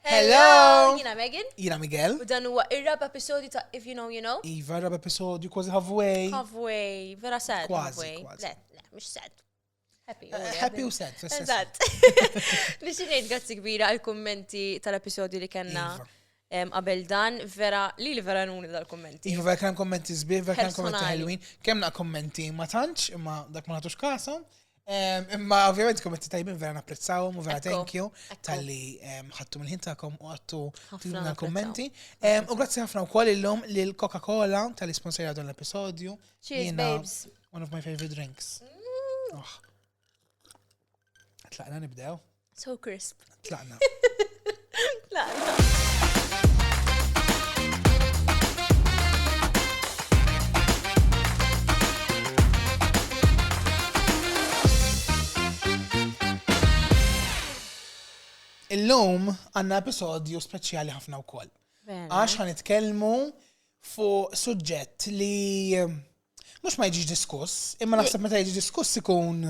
Hello! Jina Megan. Jina Miguel. U dan huwa ir-rab episodju ta' If You Know You Know. Iva, rab episodju kważi halfway. Halfway, vera sad. Kważi, kważi. Le, le, mux sad. Happy. Eh, happy u sad. Eżatt. Nixinejt grazzi kbira għal-kommenti tal-episodju li kena. Iva. Qabel dan, vera, li li vera nuni dal-kommenti. Iva, vera kena kommenti zbir, vera kena kommenti ħelwin. Kemna kommenti ma tantx, imma dak ma natux kasam. Imma ovvjament kommenti tajbin vera napprezzawhom u vera thank you tal-li ħattu mill-ħin tagħkom u għattu tluna kommenti. U grazzi ħafna wkoll illum lil Coca-Cola tal-li sponsorja dan l-episodju. Cheers, babes. One of my favorite drinks. Mm. Oh. Tlaqna nibdew. So crisp. Tlaqna. Tlaqna. Illum għanna episodju speċjali ħafna u koll. Għax għan itkelmu fuq suġġett li eh, mux ma jġiġ diskuss, imma naħseb meta jġiġ diskuss ikun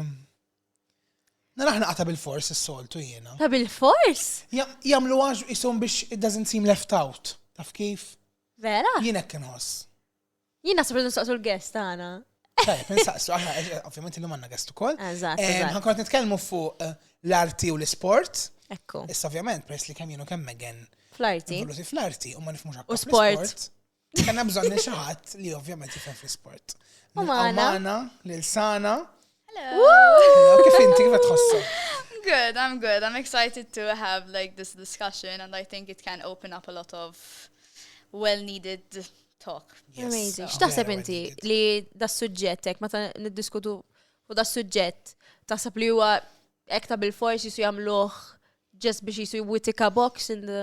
Narah naqa' ta' bilfors is-soltu jiena. Ta' bilfors? Jagħmluha ishom biex it doesn't seem left out. Taf kif? Vera? Jien hekk inħoss. Jien naħseb li nsaqsu l-guest tagħna. Tajjeb, insaqsu, ovvjament illum għandna guest ukoll. Eżatt. Ħankont nitkellmu fuq eh, l-arti u l-isport. Ekku. Issa ovvjament, peress li kemm jienu kemm Megan. Fl-arti. Fl-arti, u ma nifmux U sport. Li kena bżonni xaħat li ovvjament jifem fl-sport. U maħna. L-sana. Hello. Kif inti kif tħossu? Good, I'm good. I'm excited to have like this discussion and I think it can open up a lot of well-needed talk. Yes, Amazing. X'taħseb inti li das suġġettek meta niddiskutu u das suġġett taħseb li huwa ekta bil-fors jisu jagħmluh just biex jisu jwitika box in the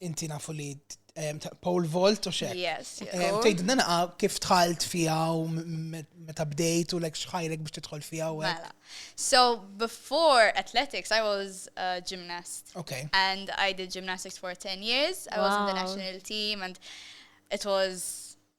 inti nafu li pole vault u xek. Yes. Tejdu nanaqa kif tħalt fija u meta bdejt u l-ek xħajrek biex titħol fija u mela. So before athletics, I was a gymnast. Okay. And I did gymnastics for 10 years. I was in the national team and it was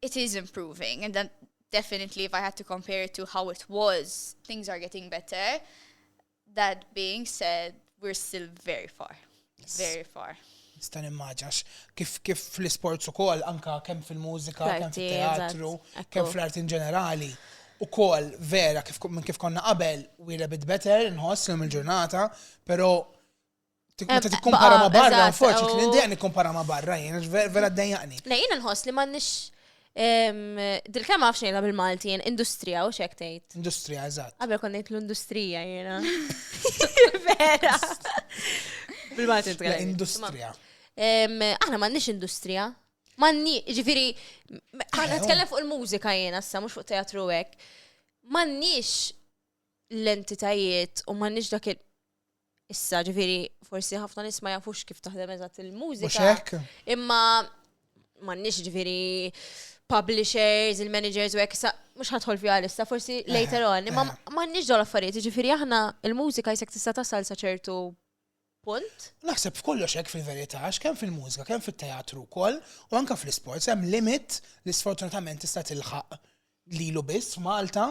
it is improving and that definitely if I had to compare it to how it was, things are getting better. That being said, we're still very far. Yes. Very far. Stan immaġax, kif kif fl-sports u kol, anka kem fil-mużika, kem fil-teatru, kem fl-art in ġenerali, u kol vera kif minn kif konna qabel, we a bit better, nħoss l-ġurnata, pero Tik meta tikkompara ma' barra, forsi kien indejja nikkompara ma' barra, jien vera ddejjaqni. Le, jiena nħoss li m'għandniex Dil-kem għaf xejla bil-Malti, jen industrija u xek tejt. Industrija, eżat. Għabel kon nejt l-industrija jena. Vera. Bil-Malti tkellem. Industrija. Aħna ma nix industrija. Ma nix, ġifiri, aħna tkellem fuq il-mużika jena, sa mux fuq teatru għek. Ma nix l-entitajiet u ma nix dak il- Issa, ġifiri, forsi ħafna nis ma jafux kif taħdem eżatt il-mużika. Imma ma nix ġifiri publishers, il-managers u għek, mux ħatħol fi għalissa, forsi eh, later on, imma eh. ma nix dol affarijiet, ġifiri aħna il-mużika jisek tista tasal saċertu punt. Naħseb f'kollox hekk fil-verità, kemm fil-mużika, kemm fit-teatru wkoll, u anke fl-isports hemm limit li sfortunatament tista' tilħaq lilu biss Malta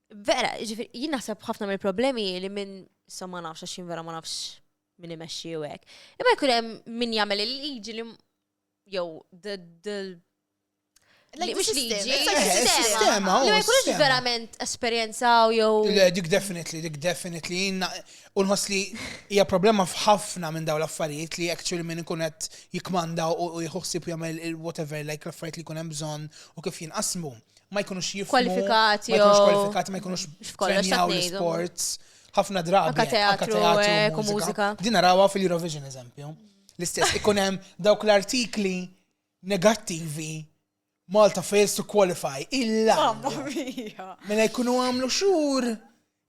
Vera, ġifiri, jien naħseb ħafna mill problemi li minn sa ma nafx għax vera ma nafx minn imexxi u hekk. Imma jkun hemm min jagħmel il-liġi li jew Li mhux liġi, sistema. Li ma jkunux verament esperjenzaw jew. Le, dik definitely, dik definitely. Jina, u nħoss li hija problema f'ħafna minn daw l-affarijiet li actually minn ikun qed jikmanda u jħossib jagħmel whatever like l-affarijiet li jkun hemm bżonn u kif jinqasmu. ma jkunux jifmu. Kwalifikati. Ma jkunux kwalifikati, ma jkunux f'kollox sports ħafna drabi. Anka teatru, u mużika. Din narawa fil-Eurovision eżempju. L-istess, ikun hemm dawk l-artikli negattivi Malta fails to qualify. Illa. Mamma mia. Mela jkunu għamlu xur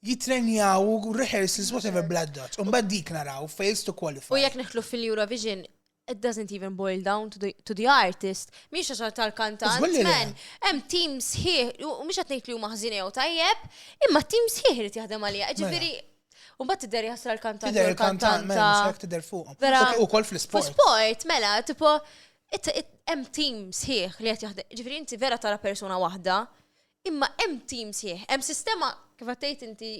jitrenjaw u rehearsals whatever blood dots. Unbad dik naraw fails to qualify. U jek neħlu fil-Eurovision, it doesn't even boil down to the, to the artist, miex għaxar tal-kantant, men, hemm team sħiħ, u miex għatnejt li huma ħżin jew tajjeb, imma team sħiħ li jaħdem għalija. Mela. Ġifieri, U bat tidher jasra l-kantant. Tidher il-kantant, mela, mela tidher fuq. Vera. U kol fl-sport. Fl-sport, mela, tipo, hemm team sħiħ li qed jaħdem. Ġifieri inti vera tara persuna waħda, imma hemm team sħiħ, hemm sistema kif għattejt inti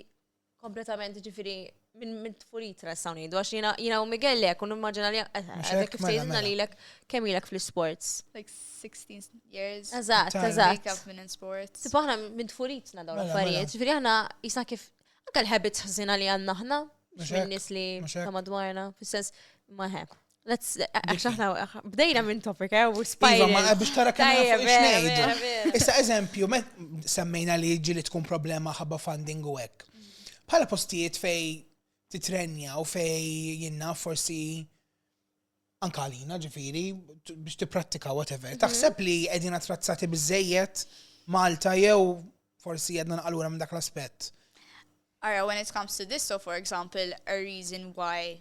Kompletament, ġifiri, minn tfurit nistgħu ngħidu għax jiena jiena u Miguel lek u nimmaġina li eh, eh, kif mela, sejżna mela. li lek kemm ilek fl-sports. Like 16 years. Eżatt, eżatt. Wake up minn in sports. Sibu aħna minn tfuritna dawn mela, l-affarijiet, ġifiri aħna jisna kif anke l-habits ħażina li għandna aħna mhux minn nies li ta' madwarna, fis-sens ma' Let's, xaħna, bdejna minn topic, eh, u spajna. Iva, ma biex tara kemm fuq xnejdu. Issa, eżempju, semmejna li ġili tkun problema ħabba funding u hekk. Bħala postijiet fej titrenja u fej jinna forsi ankalina ġifiri biex tipprattika whatever. Mhm. Taħseb li qegħdin attrazzati biżejjed Malta jew forsi għedna naqalura minn dak l-aspett. Ara, when it comes to this, so for example, a reason why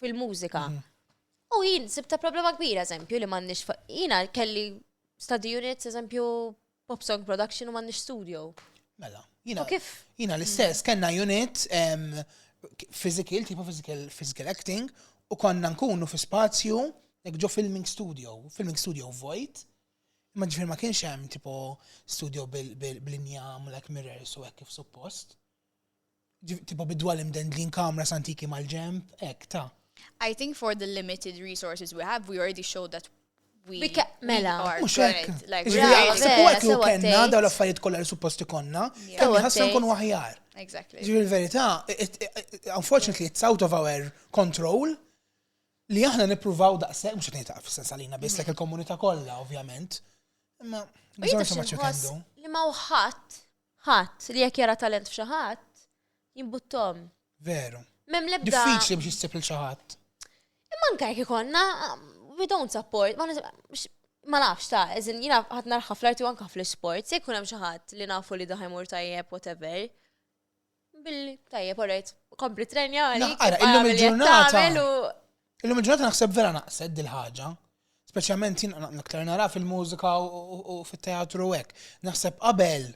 fil-mużika. Mhm. U jien sibta problema kbira, eżempju, li m'għandniex jiena kelli study units, eżempju, pop song production u m'għandniex studio. Mela, jiena kif? Jiena l-istess, kellna unit physical, tipo physical, physical acting, u konna nkunu fi spazju, ġo filming studio, filming studio void, ma ġifir ma kienx hemm tipo studio bil-injam, like mirrors u hekk kif suppost. Tipo bidwali mdendlin kamras antiki mal-ġemp, ek, ta. I think for the limited resources we have, we already showed that we Bika, mela. Mux hekk. Sebu hekk li kenna daw l-affarijiet kollha li supposti konna, kemm ħasna nkun waħjar. Exactly. Ġifieri l-verità, unfortunately it's out of our control li aħna nippruvaw daqshekk mhux qed ngħid fis-sens għalina biss lek mm. il-komunità kollha ovvjament. Imma bżonn ma ċekendu. Li ma wħadd Ħadd, li jekk jara talent f'xi ħadd, jimbuttahom. Veru. M'hemm l-ebda. Diffiċli biex issib lil xi ħadd. Imma anke jekk ikollna, we don't support, ma nafx ta' eżin jina ħadd narħa fl-arti u anke fl-isports, jekk hemm xi ħadd li nafu li daħi mur tajjeb whatever. Billi, tajjeb, orajt, kompli trenja għalik. Għara, illum il-ġurnata. Illum il-ġurnata naħseb vera naqsed dil-ħagġa. Speċjalment jien naktar nara fil-mużika u fit-teatru u hekk. Naħseb qabel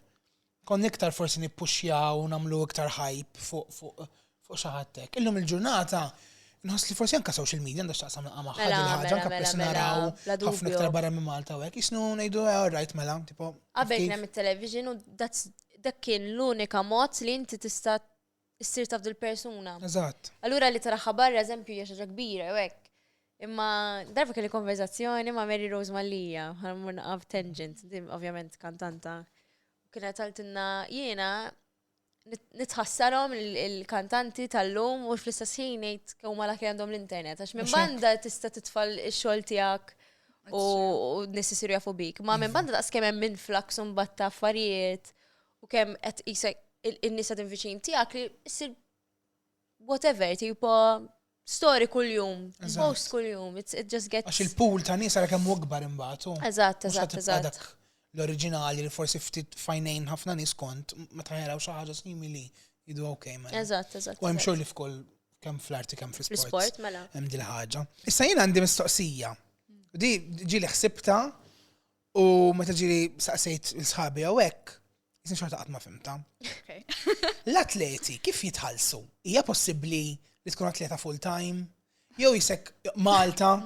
kon iktar forsi nippuxjaw u nagħmlu iktar hype fuq fuq xi ħadd Illum il-ġurnata Nħoss li forsi anka social media għandha x'taqsam naqa' magħha Mela, din ħaġa mela, anka mela, peress mela, naraw bla ħafna dubju. iktar barra minn Malta u hekk. Isnu ngħidu eh, all right mela, tipo. Qabel kif- kien hemm it-television u that's- dak kien l-unika mod li inti tista' ssir taf dil-persuna. Eżatt. Allura li taraħħa barra eżempju hija xi ħaġa kbira u hekk. Imma darba kelli konverzazzjoni ma' Mary Rose Mallia, ħana mmur naqaf tangent, din ovvjament kantanta. Kienet għaltinna jiena nitħassarhom il-kantanti tal-lum u fl-istess ħin ngħid kemm huma laki għandhom l-internet għax minn banda tista' titfal ix-xogħol tiegħek u nies isiru jafu bik. Ma minn banda daqs kemm hemm influx u mbagħad ta' affarijiet u kemm qed isek in-nies qed viċin tiegħek li issir whatever, tipo story kull-jum, post kull-jum, it just gets. Għax il-pool ta' nisa kemm gbar imbat. Eżatt, eżatt, eżatt. L-oriġinali li forsi ftit fajnejn ħafna nis kont, ma taħjaraw xi ħaġa simili, jidu ok, ma. Mela. Eżatt, eżatt. U hemm xogħol li f'kull kemm fl-arti kemm fl-sport. Fl-sport, mela. Hemm dil ħaġa. Issa jien għandi mistoqsija. Di ġili ħsibta U meta ġiri saqsejt il-sħabi jew hekk, jisni xorta qatt ma fimta. L-atleti kif jitħallsu? Hija possibbli li tkun atleta full time? Jew jisek Malta?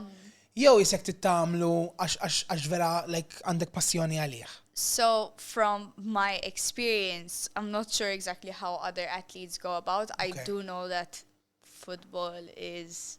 Jew jisek tittamlu għax vera like għandek passjoni għalih? So from my experience, I'm not sure exactly how other athletes go about. I do know that football is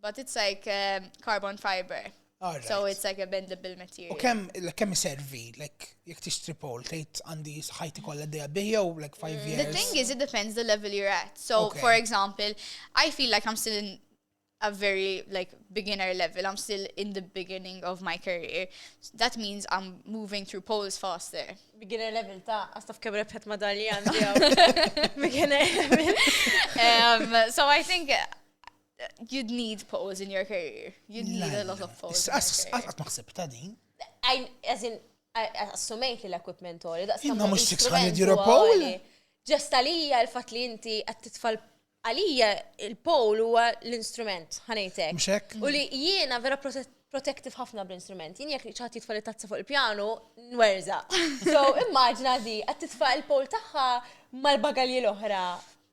But it's like um, carbon fiber. All So right. it's like a bendable U material. kemm like, kemm iservi, like jekk tixtri pol, tgħid għandi ħajti kollha dejja bih jew like five Mm. The years. thing is, it depends the level you're at. So, Okay. for example, I feel like I'm still in a very like beginner level. I'm still in the beginning of my career. That means I'm moving through poles faster. Beginner level ta' għastaf kem rebħet madalja għandi għaw. Beginner level. um, so I think You'd need pose in your career. You'd need a lot of pose. Għat maħseb ta' din. As in, assumejt li l-equipment għoli. Imma mux 600 euro pole. Ġest għalija l-fat li inti għat titfall għalija il-pole huwa l-instrument, ħanejtek. Mxek. U li jiena vera protective ħafna bl-instrument. Jien jek ċaħat jitfall it-tazza fuq il-pjanu, nwerza. So immaġna di, għat titfall il-pole taħħa mal-bagalji l-oħra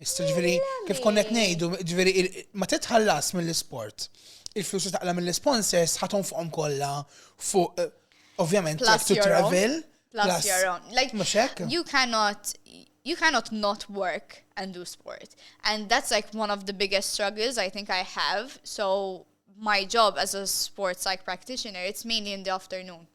Issa ġviri, kif konnet nejdu, ġviri, ma titħallas mill-sport. Il-flus li taqla mill-sponsors ħaton fuqom kolla fuq, eh, ovvjament, like to travel. Plus your own. Like, you cannot, you cannot not work and do sport. And that's like one of the biggest struggles I think I have. So my job as a sports psych practitioner, it's mainly in the afternoon.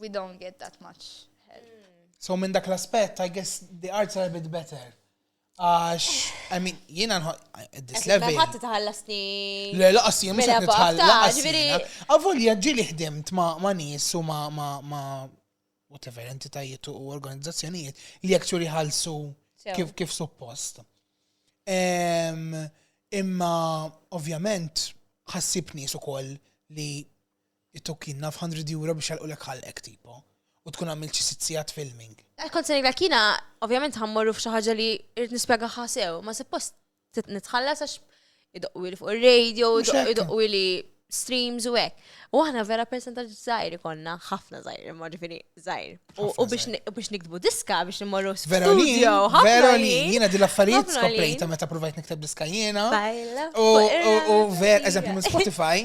we don't get that much help. So minn dak l-aspett, I guess the arts are a bit better. Għax, I mean, jina nħu, this level. Għat tħallasni. Le, laqas jien, mux għat tħallasni. Għavolja ġili ħdimt ma nis u ma ma ma whatever entitajiet u organizzazzjonijiet li actually ħalsu kif kif suppost. Imma, ovvjament, ħassib nis u koll li It took jien naf hundred euro biex jagħlqulek ħalqek tipo. U tkun għamilt xi sitt sigħat filming. Kont se ngħidlek jiena ovvjament ħammorru f'xi ħaġa li rrid nispjegaha sew, ma suppost nitħallas għax idoqqwili fuq ir-radio, idoqqwili streams u hekk. U aħna vera percentaġġ żgħir konna, ħafna żgħir, imma ġifieri żgħir. U biex nikdbu diska biex nimmorru studio. Vera li jiena di l-affarijiet skoprejta meta provajt nikteb diska jiena. U vera, eżempju minn Spotify,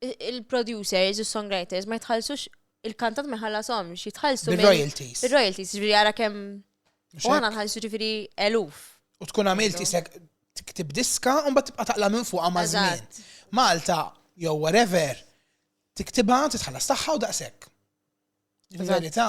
il-producers u s-songwriters ma jitħallsux il-kantant ma jħallashomx, jitħallsu minn- Bil-royalties. Il-royalties, ġifiri għara kem. Mhux U għana hekk? nħallsu ġifiri eluf. U tkun għamilt isek tiktib diska un bat tibqa taqla minn fuqa ma' żmien. Eżatt. Malta, jew whatever, tiktibha, titħallas tagħha u daqshekk. Eżatt. Verità.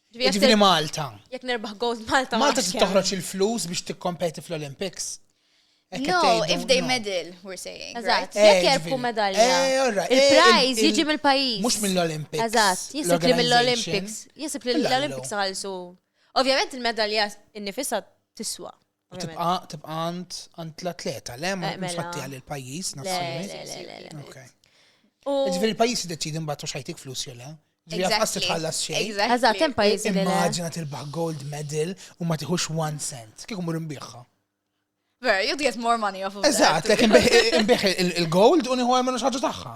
Ġifieri Malta. Jekk nerbaħ gold Malta. Malta se toħroġ il-flus biex tikkompeti fl-Olympics. No, if they medal, we're saying. Eżatt, eh, jekk jerbħu medalja. Eh, eh, Il-prize jiġi mill-pajis. Mux mill-Olympics. Eżatt, jisib li mill-Olympics. Jisib li l-Olympics għalsu. Ovvjament il-medalja innifisa tiswa. Tibqa tibqa għand għand l-atleta, le ma eh, mela. fatti għal il-pajjiż nazzjonali. Ġifieri il-pajjiż jiddeċidi mbagħad u xajtik flus jew le. Għas tħallas xej. Għazat, tem pajiz li. Immaġina tilbaħ gold medal u ma tiħux one cent. Kieku mur imbiħħa. Ver, you get more money off of that. Eżat, lek imbiħ il-gold u niħu għamlu xaġu taħħa.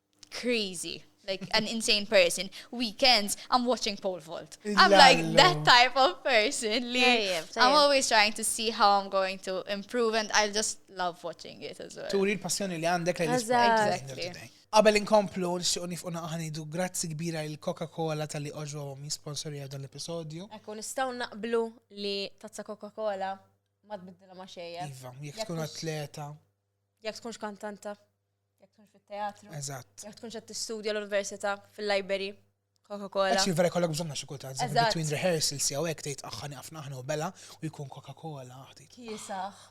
crazy. Like an insane person. Weekends, I'm watching pole vault. I'm like that type of person. Like, I'm always trying to see how I'm going to improve and I just love watching it as well. Turi l-passjoni li għandek li Exactly. Qabel inkomplu, nxtiqu nifqu naqħanidu grazzi kbira il Coca-Cola tal-li oġwom jisponsori għal dan l-episodju. Ekku, nistaw naqblu li tazza Coca-Cola ma tbiddila ma xejja. Iva, jek tkun atleta. Jek tkunx kantanta. Jekk tkunx fit-teatru. Eżatt. Jekk tkunx qed tistudja l-università fil-library. Coca-Cola. Actually, vera kollok bżonna xi kultant. Between rehearsals jew hekk tgħid aħħa nieqafna aħna u bela u jkun Coca-Cola. Kiesaħ.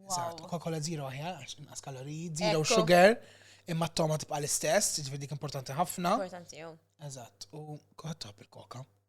Eżatt, Coca-Cola zero aħjar għax inqas kaloriji, zero sugar, imma t-toma tibqa' l-istess, ġifieri dik importanti ħafna. Importanti jew. Eżatt, u koħat il-koka.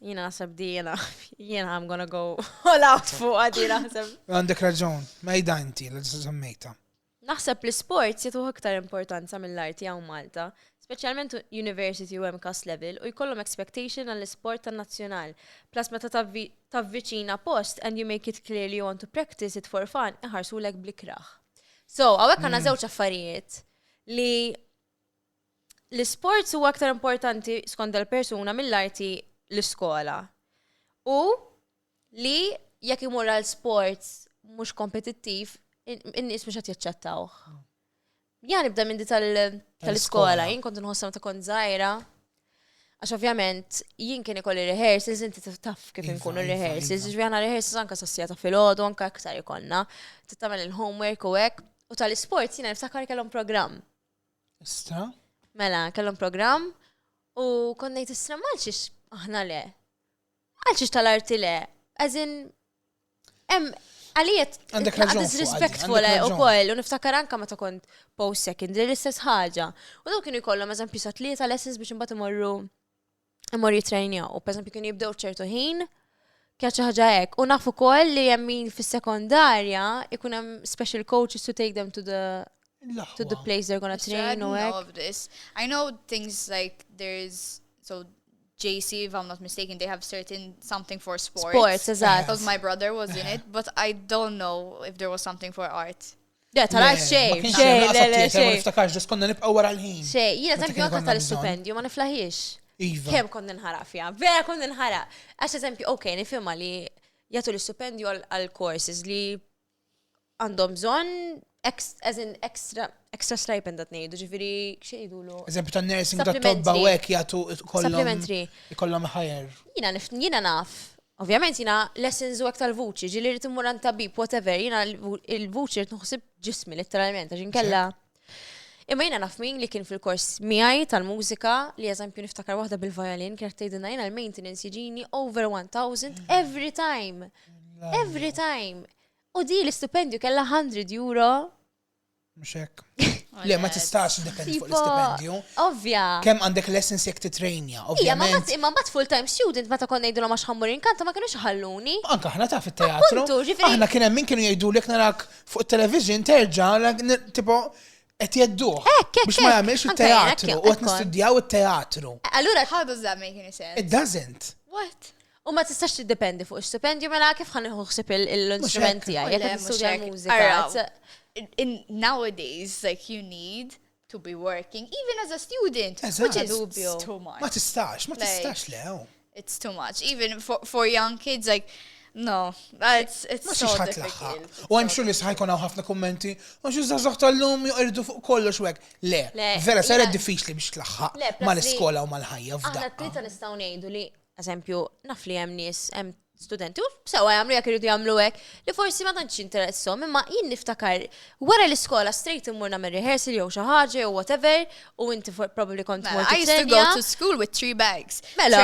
Jina nasab di jena, jena I'm gonna go all out fuq għadi naħseb. Għandek raġun, mejda inti l semmejta. Naħseb li sport jitu iktar importanza mill-arti għaw Malta, specialment university u MCAS level u jkollhom expectation għall sport tan nazzjonal. Plus meta tavviċina post and you make it clear you want to practice it for fun, iħarsu l blikra. So, għawek għanna zewċ mm. affarijiet li l-isports huwa aktar importanti skont dal-persuna mill-arti l-iskola. U li jekk imur għal sports mhux kompetittiv, in-nies mhux qed jaċċettawh. Ja nibda minn di tal-iskola, jien kont nħossam ta' kont żgħira. Għax ovvjament jien kien ikolli rehearsals, inti taf kif iva, inkunu iva, rehearsals, iva. ġvijana rehearsals anka sassijata fil-ħodu, anka aktar ikonna, t-tamel il-homework u hekk. U tal-sports jina niftakar kellhom programm. Issa? Mela, kellhom programm u konnejt is-srem għalxiex aħna le. Għalxiex tal-arti le. Għazin, em, għaliet, għandek raġun. Disrespectful eh, u koll, u niftakar anka ma ta' kont post secondary l-istess ħaġa. U daw kienu jkollhom eżempju sa' tlieta lessons biex imbagħad imorru imur jitrejnjaw. U pereżempju kienu jibdew ċertu ħin, kienet xi ħaġa hekk. U nafu wkoll li hemm min fis-sekondarja ikun hemm special coaches to take them to the to the place they're gonna train u hekk. of this. I know things like there's so JC, if I'm not mistaken, they have certain something for sports. Sports, exactly. Because my brother was in it, but I don't know if there was something for art. Le, tal Le, xej. ma kienx Xej, hemm laqas le, le, attieta, ma xej. niftakarx, ġus konna nibqgħu wara l-ħin. Xej, jiena Meta eżempju kien anke konna tal-istupendju ma niflaħiex. Iva. Kemm kont ninħaraq fiha, vera kont ninħaraq. Għax eżempju, ok, nifhimha li jagħtu l-istupendju għal- għal courses li għandhom bżonn ex- as in extra extra stipend qed ngħidu, ġifieri xejdu Eżempju ta' nursing ta' tobba Supplementary. u hekk jagħtu kollhom Supplementary. ikollhom ħajer. Jiena nif jiena naf Ovvjament jiena lessons u hekk tal-vuċi, ġieli rrid immur għand tabib, whatever, jiena l-vuċi rrid nħossib ġismi letteralment għax inkella. Imma jiena naf min li kien fil-kors miegħi tal-mużika li eżempju niftakar waħda bil-violin kienet tgħidilna jiena l-maintenance jiġini over 1000 every time. Every time. U di l-istipendju kellha 100 euro Mux hekk. Le, ma tistax dependi fuq l-istipendju. Ovvja. Kem għandek lessons jek titrejnja, ovvja. Ma bat imma bat full-time student meta kon nejdu ma xħammur inkanta ma kienu xħalluni. Anka ħna taf il-teatru. Aħna kien hemm min kienu jgħidu lek narak fuq television terġa' tipo qed jeddu. Biex ma jagħmilx il-teatru u qed nistudjaw it-teatru. Allura how does that make any sense? It doesn't. What? U ma tistax tiddependi fuq stipendju mela kif ħan nieħu ħsib l-instrument tiegħi jekk nistudja l-mużika. Nowadays like you need to be working even as a student, which is too much. Ma tistax, ma tistax le. Oh. It's too much even for, for young kids like No, it's, it's so difficult. U għem xur li sħajkon għaw ħafna kommenti, u xur zazax tal-lum juqirdu fuq kollox wek. Le, vera, sara diffiċli biex tlaħħaq ma l-iskola u ma l-ħajja f'dak. Għadda t-tlieta nistaw nejdu li eżempju, naf li hemm nies, hemm studenti, u sewa jagħmlu jekk iridu jagħmlu hekk, li forsi ma tantx interessom, imma jien niftakar wara l-iskola straight immur nagħmel rehearsal jew xi ħaġa jew whatever, u inti probably kont mela, mort. I used to go to school with three bags. Mela,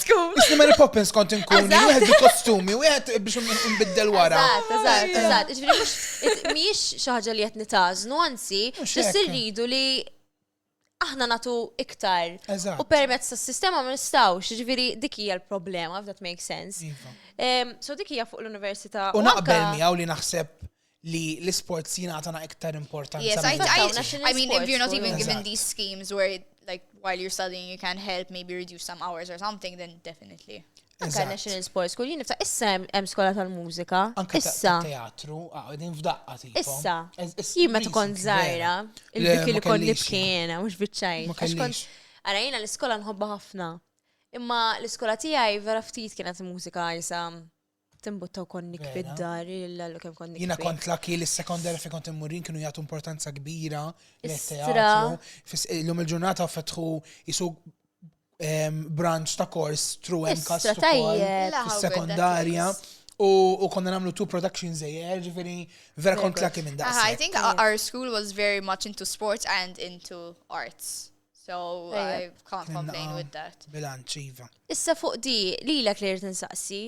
school. Isni Mary Poppins kont inkun, wieħed bi kostumi, wieħed biex nbiddel wara. Eżatt, eżatt, eżatt. Ġifieri mhux mhijiex xi ħaġa li qed nitażnu, anzi, biss irridu li aħna natu iktar. Eżatt. U permezz tas-sistema ma nistgħux, jiġifieri dik hija l-problema, if that makes sense. Iva. Em, So dik hija fuq l-università. U naqbel anka- miegħu li naħseb li l-isports jingħatana iktar importanza. Yes, I, minn Sports, I, national I mean, if sports, you're not even sports. given Eżatt. these schemes where, like, while you're studying, you can help, maybe reduce some hours or something, then definitely. Anka National Sports School, jien issa hemm skola tal-mużika. Issa. Teatru, għadin f'daqqa ti. Issa. Jien ma tkun żgħira, il-dik li kont nibkiena, mhux biċċajn. Ara jiena l-iskola nħobba ħafna. Imma l-iskola tiegħi vera ftit kienet mużika jisa timbuttaw konnik fid-dar, l-għallu kem konnik. Jina kont laki li s-sekondar fi kont immurin kienu jgħatu importanza kbira l-teatru. L-lum il-ġurnata fetħu jisu branch ta' kors through MCAS Istra, tajjeb. sekondarja. U konna namlu two productions a year, ġifiri, vera kont laki minn daqs. I think our school was very much into sports and into arts. So I can't complain with that. Bilanċ, Iva. Issa fuq di, li l-ek li rrit nsaqsi,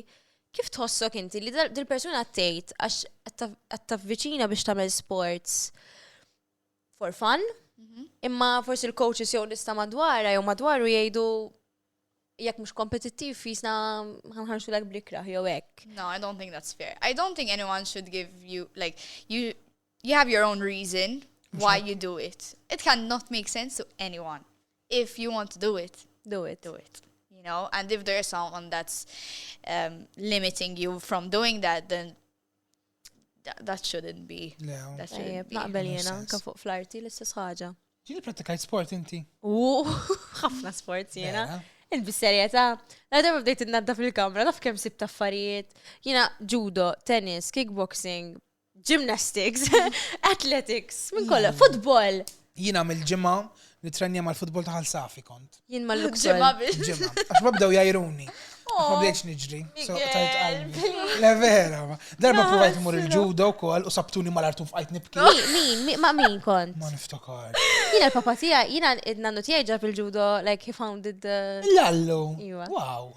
kif tħossok inti li dil-persuna t-tejt għax għattaf viċina biex tamel sports? for fun, mhm. imma forsi l-coaches jew nista madwara jew madwaru jgħidu jekk mhux kompetittiv jisna ħanħarsu lek blikra jew hekk. No, I don't think that's fair. I don't think anyone should give you like you you have your own reason why you do it. It cannot make sense to anyone. If you want to do it, do it. Do it. You know, and if there's someone that's um, limiting you from doing that, then That shouldn't be. That shouldn't be. Naqbel jena, anka fuq fl-arti l-istess ħaġa. Ġini pratikajt sport inti? U, ħafna sport jena. Il-bisserjeta, la darba bdejt id-nadda fil-kamra, naf kem sib taffarijiet. Jena judo, tennis, kickboxing, gymnastics, athletics, minn kolla, football. Jiena mill-ġimgħa nitrennja mal-futbol ta' Ħal Safi kont. Jien ma l-luksu. Ġimgħa biex. Ġimgħa. Għax ma bdew jajruni. Għax ma bdejtx niġri. so Miguel, tajt qalbi. please. Le vera. ma. Darba No, provajt mur il-ġudo wkoll u sabtuni mal-artu f'qajt nibki. Mi- Min, mi- ma' min kont? Ma niftakar. Jiena l-papa tiegħi, jiena id-nannu tiegħi ġab il-ġudo, like he founded the. Lallu. Iva. Wow.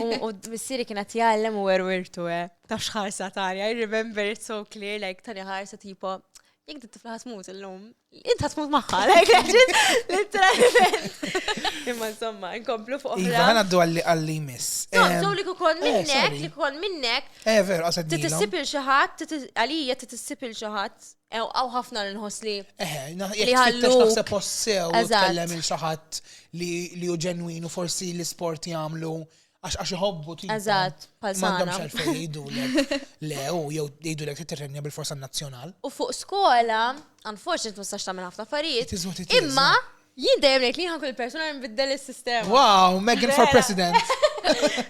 U missieri kien qed jgħallem u werwirtu, eh. Ta' xħarsa tanja, I remember it so clear, like tanja ħarsa tipo, jek dit tifla ħatmut illum, int ħatmut maħħa, like literalment. Imma insomma, inkomplu fuq. Iva, ħana għaddu għalli għalli miss. Għaddu li kukon eh, minnek, li kukon minnek. Eh, veru, għasad. Titissip il-xaħat, għalija titissip il-xaħat. Ew, għaw ħafna li nħoss li. Eħe, li ħallu. Naħseb possew, tkellem il xaħat li u ġenwinu forsi l-sport jagħmlu għax għax iħobbu ti. Eżatt, pal Mandom xalfej jgħidu le u jew jgħidu lek titrenja bil-forsa nazzjonal. U fuq skola, unfortunately ma stax tagħmel ħafna affarijiet. Imma Jien dejjem ngħid li ħankun il-persuna li nbiddel is-sistema. Wow, Megan for President.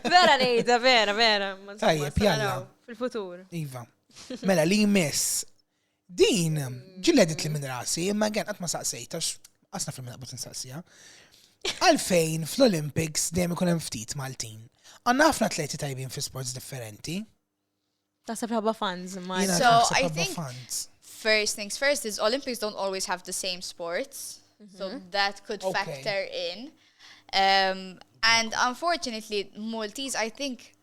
Vera ngħidha, vera, vera. Tajjeb, jalla. Fil-futur. Iva. Mela li jmiss. Din, ġilledit li minn rasi, imma għen għatma saqsejt, għax għasna fil naqbut nsaqsija. Għalfejn fl-Olympics dejjem ikun hemm ftit Maltin. Għanna ħafna atleti tajbin fi sports differenti. Taħseb ħabba fans, ma. So, I think fans. first things first is Olympics don't always have the same sports. Mm -hmm. So mm-hmm. that could okay. factor in. Um, and unfortunately, Maltese, I think,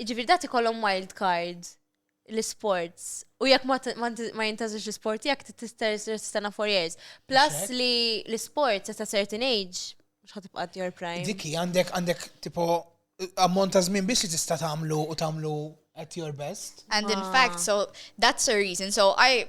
Jiġifieri dati kollhom wild card l-isports. U jekk ma jintażilx l-isport tiegħek tistenna for years. Plus li l-isports at a certain age mhux ħatibqa' your prime. Dikki għandek għandek tipo ammont ta' żmien biss li tista' tagħmlu u tagħmlu at your best. And in fact, so that's a reason. So I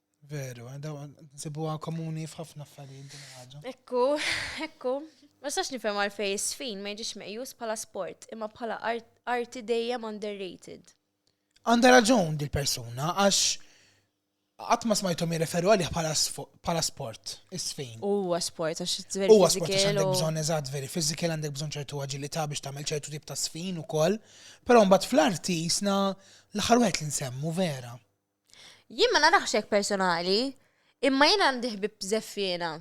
Veru, għadaw, nsibuha komuni f'ħafna affarijiet din ħaġa. Ekku, ekku. Ma sax nifhem għalfej is-sfin ma jiġix meqjus bħala sport, imma bħala arti dejjem underrated. Għandha raġun dil-persuna għax qatt ma smajthom jirreferu għalih bħala sport, is-sfin. Huwa sport għax veri Huwa sport għax għandek bżonn eżatt veri fiżikel għandek bżonn ċertu aġilità biex tagħmel ċertu tip ta' sfin ukoll, però mbagħad fl-arti jisna l-aħħar wieħed li nsemmu vera. Jien ma narax hekk personali, imma jien għandi ħbib żeffiena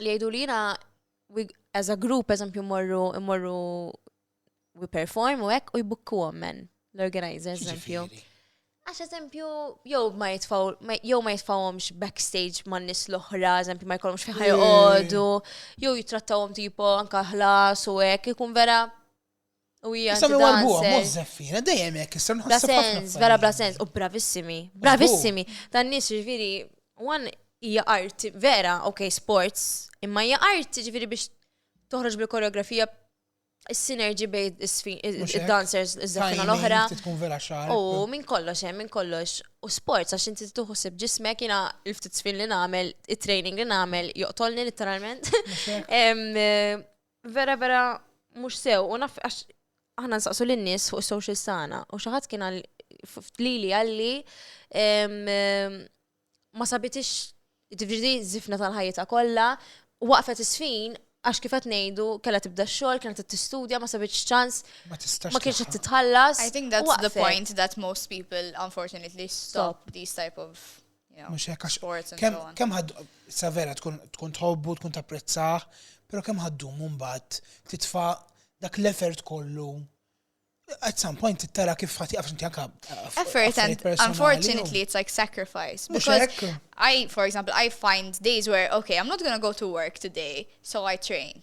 li jgħidu li jiena as a group eżempju morru morru we perform u hekk u jbukku men l-organizers eżempju. Għax eżempju, jew ma jitfaw, jew ma jitfawhomx backstage ma' nis l-oħra, eżempju ma jkollhomx fejn ħajqogħdu, jew jitrattawhom tipo anka ħlas u hekk ikun vera U hija Issa mi warbuha, mhux dancer. żeffina, dejjem hekk, issa Bla nħasseb ħafna. sens, vera bla f'pajjiżna. sens, u bravissimi, bravissimi. Dan nies ġifieri, one hija art vera, ok, sports, imma hija art ġifieri biex toħroġ bil-koreografija is-sinerġi bejn is-sfi- Mhux hekk. id-dancers iż-żaffina Timing, l-oħra. trid tkun vera xar. U minn kollox hemm, minn kollox. U sports għax inti tieħu ħsieb ġismek jiena l-ftit sfin li nagħmel, it-training li nagħmel joqtolni litteralment. Em, eh, vera vera mhux sew u naf għax aħna nsaqsu lin-nies fuq is-social sana u xi ħadd kien għal lili għalli ma sabitix ġifieri żifna tal-ħajjita kollha waqfet is-sfin għax kif qed ngħidu kellha tibda x-xogħol, kienet qed tistudja, ma sabitx ċans, ma kienx qed titħallas. I think that's the point that most people unfortunately stop these type of Mhux hekk għax kemm kemm ħad sa vera tkun tkun tħobbu, tkun tapprezzah, però kemm ħaddum mbagħad titfa' dak l-effort kollu at some point tara kif ħati għafx inti għaka. Effort and unfortunately it's like sacrifice. Because I, for example, I find days where, okay, I'm not gonna go to work today, so I train.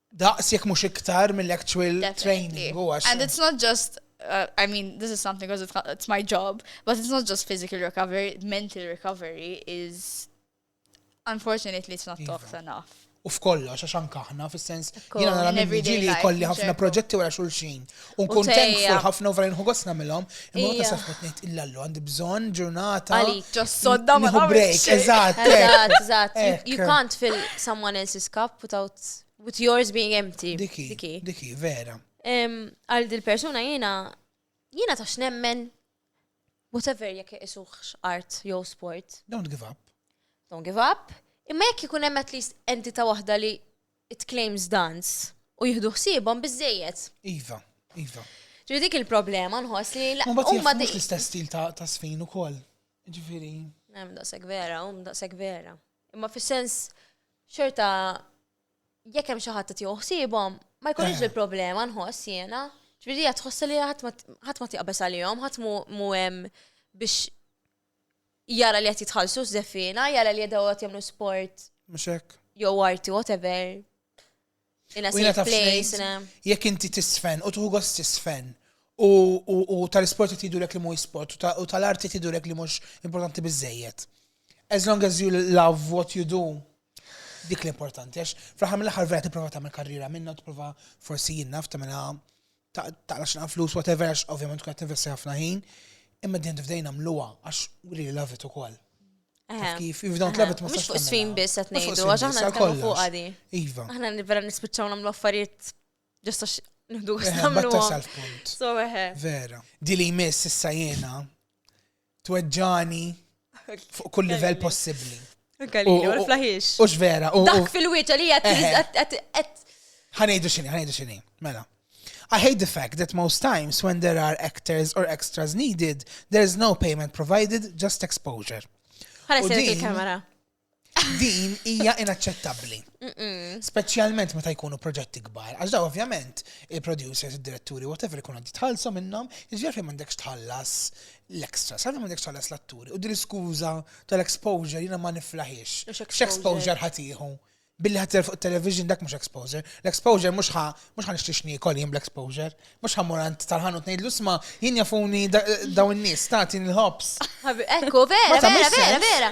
daqs jekk mhux iktar mill-actual training u għax. And it's not just Uh, I mean, this is something because it's, it's, my job, but it's not just physical recovery, mental recovery is unfortunately it's not Iva. talked enough. U f'kollox, għax anka aħna, fis-sens, jina nara minn ġili kolli ħafna proġetti wara xulxin. Unkun thankful ħafna vera nħu għosna millom, imma ta' safħu t-nejt illallu għandi bżon ġurnata. Għali, ġossodda ma' break, eżat. Eżat, eżat. You can't fill someone else's cup without with yours being empty. Diki, diki, vera. Għal dil-persuna jena, jena ta' xnemmen, whatever jek isuħx art jew sport. Don't give up. Don't give up. Imma jek jikun hemm at least entita' waħda li it-claims dance u jieħdu ħsiebhom biżejjed. Iva, iva. Ġifieri dik il-problema nħoss li la- Mbagħad huma jieħdu di- l-istess stil ta' ta' sfin ukoll. Ġifieri. Hemm daqshekk vera, hum daqshekk vera. Imma fis-sens xorta jekk hemm xi ħadd qed jieħu ħsiebhom, ma jkunx Eh. il-problema nħoss jiena. Ġifieri hija tħossha li ħadd ma- ħadd ma tiqbeż għalihom, ħadd mu- mu hemm biex jara li qed jitħallsu żeffiena, jara li jedaw qed jagħmlu sport. Mhux hekk. Jew arti whatever. In a safe place. Jekk inti tisfen u tuħu gost tisfen u tal-isport qed jidulek li mhuwiex sport u tal-arti tidulek li mhux importanti biżejjed. As long as you love what you do, dik l-importanti, għax fl-ħar mill-ħar vera tipprova tagħmel karriera minna, tipprova forsi jinnaf tagħmilha taqla x'inha flus whatever għax ovvjament tkun qed tinvesti ħafna ħin, imma din tfdejna mluha għax really love it ukoll. Kif, if don't love it ma Mhux fuq sfin biss qed ngħidu għax aħna nitkellmu fuq għadi. Iva. Aħna vera nispiċċaw nagħmlu affarijiet ġosta nħdu għastamlu. Batta sal-punt. So eħe. Vera. Dili jmiss issa jena Tweġġani fuq kull livell possibbli. Galileo, l-flaħiex. Ux vera. Dak fil-wieċa li għed. Ħanejdu xini, ħanejdu xini. Mela. I hate the fact that most times when there are actors or extras needed, there is no payment provided, just exposure. Ħana s-sir il-kamera. Din hija inaċċettabbli. Speċjalment meta jkunu proġetti kbar. Għax daw ovvjament il-producers, id-diretturi, whatever ikun għaddi tħallsu minnhom, jiġri fejn m'għandekx tħallas l-extra, sa m'għandekx tħallas l-atturi. U din l-iskuża tal-exposure jiena ma niflaħiex. X'exposure ħatiħu? Billi ħatir fuq television dak mhux exposure. L-exposure mhux ħa mhux ħa nixtiex niekol jien bl-exposure. Mhux ħa morant tal-ħanu tnejdlu sma jien jafuni daw in-nies tagħti l-ħobs. Ekku, vera, vera, vera, vera.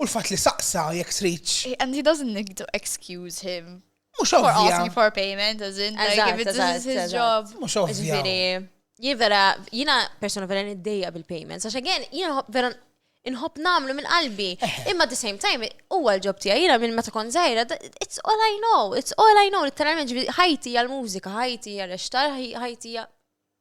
U l-fatt li saqsa jekk tridx. And he doesn't need to excuse him. Mhux ovvja. For asking for payment, as in, like, if it's his, his job. Mhux ovvja. Jien vera, jiena persona vera niddejja bil-payments, għax again, jiena vera inħobb namlu minn qalbi. Imma at the same time, huwa l-ġob tiegħi jiena minn meta kont żgħira, it's all I know, it's all I know, literalment ħajti għal-mużika, ħajti għal-ixtar, ħajti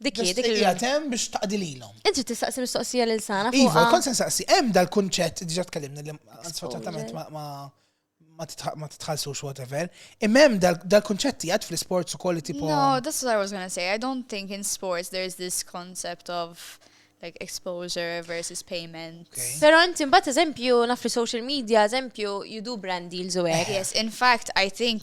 Dik hi, Biss dik hi. tqija temm biex taqdi lilhom. Int trid tistaqsi mistoqsija lil sana Iva, fuqha. kont se nsaqsi, hemm dal-kunċett, diġà tkellimna li sfortunatament ma- ma ma titħa- ma titħallsux whatever. Imma hemm dal- dal-kunċett jgħid fl-isports ukoll li tipo. No, that's what I was gonna say. I don't think in sports there's this concept of like exposure versus payment. Okay. Però inti mbagħad eżempju naf li social media, eżempju you do brand deals u hekk. Yes, in fact, I think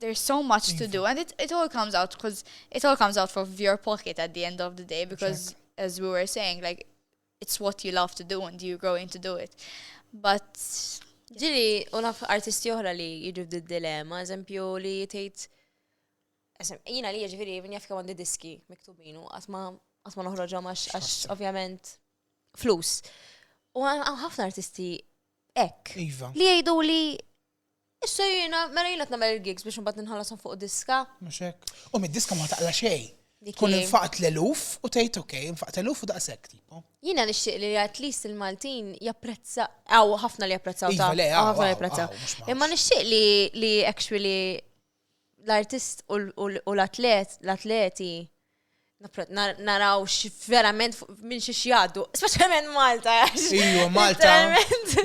there's so much to do and it, it all comes out because it all comes out of your pocket at the end of the day because as we were saying like it's what you love to do and you're going to do it but ġili u naf artisti oħra li jiġu d dilemma eżempju li tgħid jina li jiġifieri minn jaf kemm għandi diski miktubinu għatma għatma noħroġhom għax ovvjament flus. U ħafna artisti ek. Iva. Li jgħidu li Issa jiena, mela jiena t-namel il-gigs biex nbat nħallasom fuq diska. Mux hekk. U mid-diska ma taqla xej. Tkun infaqt l-eluf u tgħid ok, infaqt l-eluf u daqshekk tipo. Jiena nixtieq li at least il-Maltin japprezza, għaw ħafna li japprezzaw ta' iva, ħafna li japprezzaw. Imma nixtieq li actually l-artist u l-atleti naraw verament minn xiex jaddu, specialment Malta. Iju, Malta.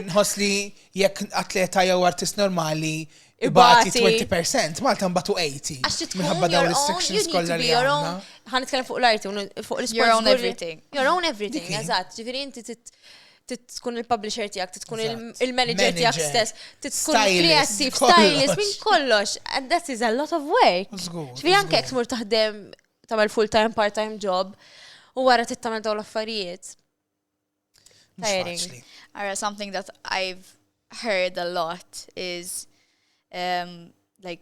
Nħos li jekk atleta jew artist normali ibati 20%, Malta mbatu 80. Minħabba dawn restrictions kollha li għandna. Ħan nitkellem fuq l-arti, fuq l-sport. Your own everything. Your own everything, eżatt. Ġifieri inti tkun il-publisher tijak, tkun il-manager tijak stess, tkun il-kreativ, stylist, minn kollox. And that is a lot of work. Xvi anke eksmur taħdem tamel full-time, part-time job, u għara tittamel daw l-affarijiet. Tiring. Ara, something that I've heard a lot is um, like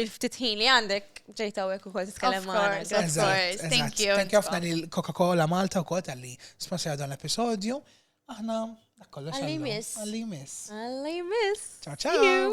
il-ftit ħin li għandek ġejt hawnhekk ukoll titkellem magħna. Eżatt, thank you. Thank you ħafna lil Coca-Cola Malta wkoll tal-li sponsor dan l-episodju. Aħna kollox. Għalli miss. Għalli miss. Għalli miss. Ciao ciao.